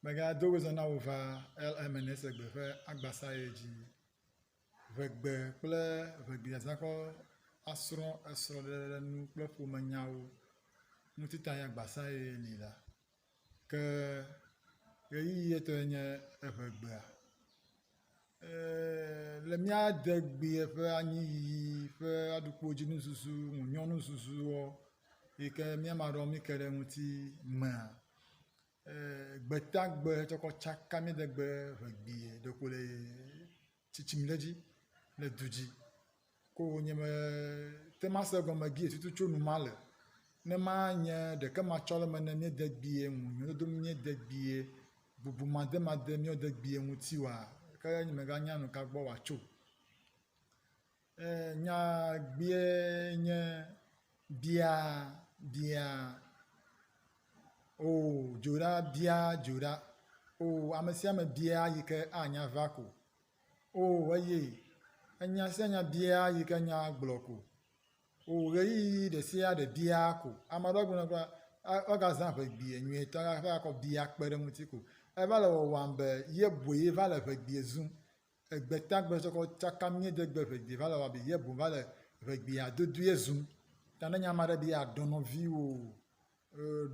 Megado wezã na wò va LMNSE gbe ƒe agbasa ye dzi. Ʋegbe kple ʋegbeazãkɔ asrɔ̃ esrɔ̃ɖeɖenu kple ƒomenyawo ŋutita ye agbasa ye li la. Ke ɣeyiɣi etɔe nye eʋegbea. Le mía degbea ƒe anyi yiyi ƒe aɖukpo dzi nuzuzu ŋu nyɔ nuzuzu wɔ yi ke mía me aɖewo mí ke ɖe eŋuti mea, gbetagbe tsɔ kɔ tsaka mía degbe ŋegbee ɖeko le tsitsim ɖe edzi le du dzi. ko nye me te ŋu ase egɔme vie tutu tso nu ma le. Ne ma nye ɖeke ma tsɔ le me ne mía degbee ŋu, mía dodo ŋu mía degbee, bubu ma de ma de mía degbee ŋuti oa, ke nye me ga nya nu ka gbɔ wa tso. Eh nya gbee nye bia bia oh dzoɖa bia dzoɖa oh ame sia ame bia yi ke anya va ko. Oo eye enya sia nya bia yi ke nya gblɔ ko. Oo ɣeyiɣi ɖe sia ɖe bia ko. Ame aɖewo gblɔ na be woagazã ŋe gbea nyuietɔ la ƒe akɔ bia kpe ɖe eŋuti ko. Eva le wɔwɔm be ye boe va le ŋe gbea zum. Egbe ta gbe tsɔkɔ tsaka mía de gbe ŋe gbea va le wɔwɔm be ye boe va le ŋe gbea dodoea zum. Ta ne nye ame aɖe be ye adɔ nɔviwò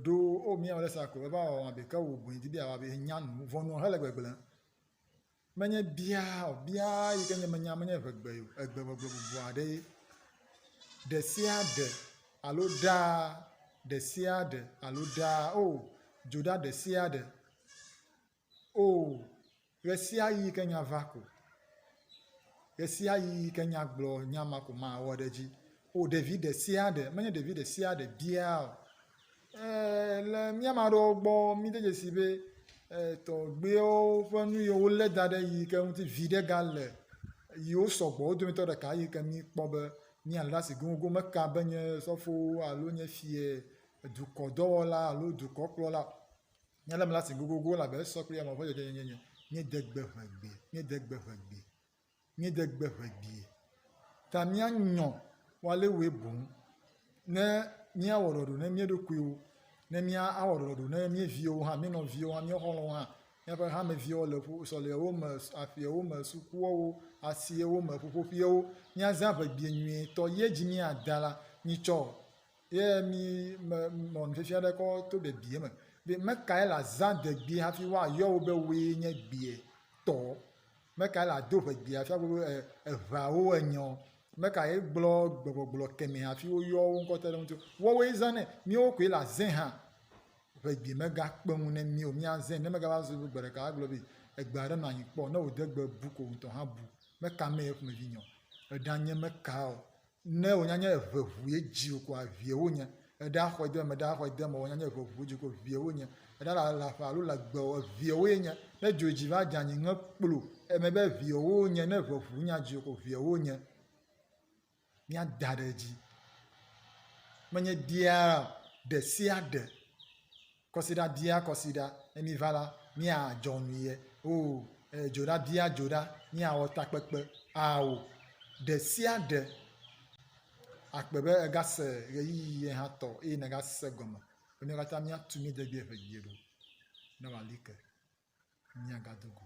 ɖo oo mía wɔ ɖe sia ko eva wɔwɔm be ke wò boe di be yeawɔ be nya nu vɔ nɔ hele gbegblẽ. Menye biaa o, biaa yi ke nye menya menye ʋegbe o, egbeʋegbe bubu aɖee. Ɖesiaɖe alo ɖaa, ɖesiaɖe alo ɖaa o, dzo ɖa ɖesiaɖe o, ɣesiaɣi yi ke nya va ko, ɣesiaɣi yi ke nya gblɔ, nya ma ko mawɔ ɖe edzi O ɖevi ɖe sia ɖe, menye ɖevi ɖe sia ɖe biaa o. Eee le mía me aɖewo gbɔ míde dzesi be tɔgbuiwo ƒe nu yiwo wolé da ɖe yi ke ŋuti viɖe gale yiwo sɔgbɔ wo dometɔ ɖeka yi ke míkpɔ be míalé ɖe asi goŋgoŋ meka be nye sɔfowo alo nye fia, dukɔdɔwɔla alo dukɔkplɔla míalé ame ɖe asi goŋgoŋgoŋ elabe esɔ kple yame ƒe dzɔdzɔenyenye. Míede gbe ʋe gbe, míede gbe ʋe gbe. míede gbe ŋe gbie. Ta míanyɔ woalewoe boŋ ne míawɔ ɖɔɖɔ ne mía ɖokuiwo, ne míawɔ ɖɔɖɔ ne mía viwo hã, mía nɔviwo hã, mía xɔlɔ̃wo hã, míaƒe hameviwo le ƒu sɔlewo me, aƒeawo me, sukuawo, asiewo me, ƒuƒoƒeawo. Míazã ŋe gbie nyuietɔ ye dzi míada la, mitsɔ ye mí me nɔ nufiafia ɖe kɔ to ɖebie me be, Mekae le azã de gbie hafi woayɔ wò be wòe nye gbie tɔ? Meka ye le ado ʋe gbea fia be eʋea wo enyɔ o. Meka ye gblɔ gbegbɔgblɔ kemɛ hafi wo yɔ wo ŋkɔ te ɖe ŋuti o. Woawo ye zã nɛ. Míwo koe le azẽ hã. Ʋe gbi me ga kpe ŋu ne mí o. Mía zẽ ne me ga va su be gbe ɖeka wa gblɔ be egbe aɖe nɔ anyi kpɔ. Ne wo de gbe bu ko wo ŋutɔ hã bu. Meka me ye ƒomevi nyɔ. Eɖa nye meka o. Ne wò nya nye eve ʋu ye dzi wò koa vie wò nye. Eɖe axɔ ede eme, eɖe axɔ ede eme, wò nya nye eve ʋu ye dzi ko vie wò nye. Eɖe ala le aƒe alo le agbe o, evie wò ye nye. Ne dzo dzi va dze anyi ŋe kplo eme be evie wò nye, ne eve ʋu nya dzi wò ko vie wò nye. Mía da ɖe edzi. Menye dia ɖe sia ɖe Kɔsiɖa bia kɔsiɖa, ne míva la, míadzɔ nyui ye. Oo, e, dzoɖa bia dzoɖa, míawɔ takpekpe. Ao, ɖe sia ɖe. Akpe be ègase ɣeyiɣi ye hã tɔ eye nègase egɔme be míawo katã míatu mía degbee ʋegie ɖo ne wòali ke. Míagado go.